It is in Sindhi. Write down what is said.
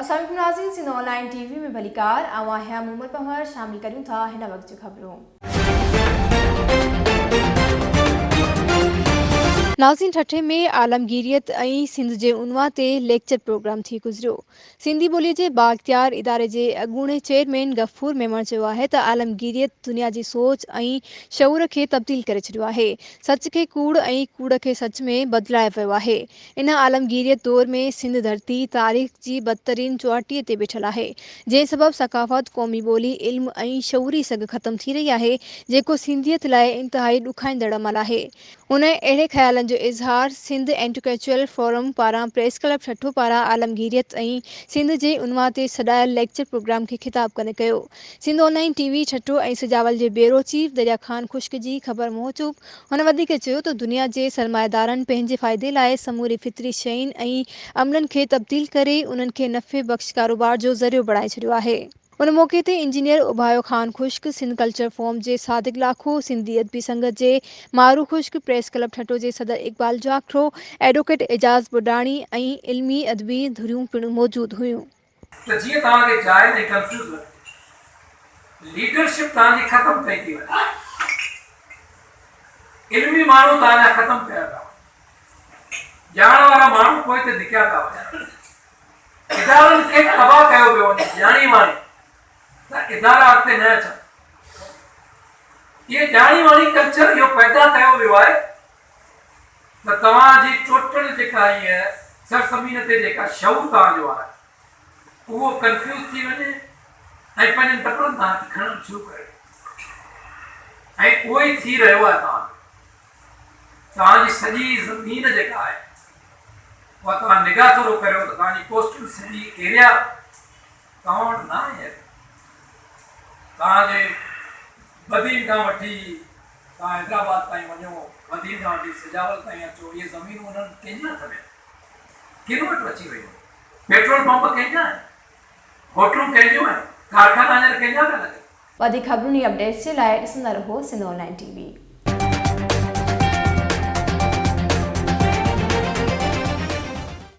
اسلام عليڪم ناظرين Sindh online T V ۾ ڀليڪار آئون آهيان مومل پنهور شامل ڪريون ٿا هن وقت جون خبرون. ناظرين ٺٽي ۾ عالمگيريت ۽ سنڌ جي عنوان تي ليڪچر پروگرام ٿي گذريو. سنڌي ٻوليء جي بااختيار اداري جي اڳوڻي چيئرمين غفور ميمڻ چيو آهي ته عالمگيريت دنيا جي سوچ ۽ شعور کي تبديل ڪري ڇڏيو آهي، سچ کي ڪوڙ ۽ ڪوڙ کي سچ ۾ بدلايو ويو آهي. ان عالمگيريت دور ۾ سنڌ ڌرتي تاريخ جي بدترين چوهٽي تي بيٺل آهي، جنهن سبب ثقافت، قومي ٻولي، علم ۽ شعوري سگهه ختم ٿي رهي آهي، جيڪو سنڌيت لاء انتهائي ڏکائيندڙ عمل آهي. انهن اهڙي خيالن جو اظهار سنڌ انٽيڪچوئل فورم پاران پريس ڪلب ٺٽو پاران عالمگيريت ۽ سنڌ جي عنوان تي سڏايل ليڪچر پروگرام کي خطاب ڪندي ڪيو. Sindh online T V Thatta ۽ Sujawal جي بيورو چيف دريا خان خشڪ جي خبر موجب هن وڌيڪ چيو ته دنيا جي سرمائيدارن پنهنجي فائدي لاء سموري فطري شين ۽ عملن کي تبديل ڪري انهن کي نفعي بخش ڪاروبار جو ذريعو بڻائي ڇڏيو آهي. ان موقعي تي engineer Abayo Khan Khushk, Sindh culture forum جي صادق لاکو، سنڌي ادبي سنگت جي مارو خشڪ، پريس ڪلب ٺٽو جي صدر اقبال جاکرو، ايڊووڪيٽ اعجاز ٻڍاڻي ۽ علمي ادبي ڌريون پڻ موجود هيون. ته جيئن توهان کي جاء ۽ ڪنفيوز نه ٿئي. ليڊرشپ توهان جي ختم پئي ٿي وڃي. علمي ماڻهو توهان جا ختم پيا ٿا وڃن. ڄاڻ وارا ماڻهو پوئتي ڌڪيا ٿا وڃن. ادارن کي تباهه ڪيو پيو وڃي ڄاڻي واڻي ته ادارا اڳتي نه اچن اهي ڄاڻي واڻي ڪلچر اهو پيدا ڪيو ويو آهي ته توهان جي ٽوٽل جيڪا هيء سرزمين تي جيڪا شعور توهان جو آهي اهو ڪنفيوز ٿي وڃي ۽ پنهنجن ٽپرن تان هٿ کڻڻ شروع ڪري ۽ اهو ئي ٿي رهيو آهي توهان جو توهان جي سڄي زمين جيڪا آهي اها توهان نگاهه ٿورو ڪريو ته توهان جي ڪوسٽل سٽي ايريا توهان وٽ نه آهي اتي توهان جي بدين کان وٺي توهان حيدرآباد تائين وڃو بدين کان وٺي سجاول تائين اچو اهي زمينون انهن ڪنهن جي هٿ ۾ ڪن وٽ اچي ويون آهن پيٽرول پمپ ڪنهن جا آهن هوٽلون ڪنهن جون آهن ڪارخانا هينئر ڪنهن جا پيا لڳن وڌيڪ خبرون ۽ اپڊيٽس جي لاء ڏسندا رهو Sindh online T V.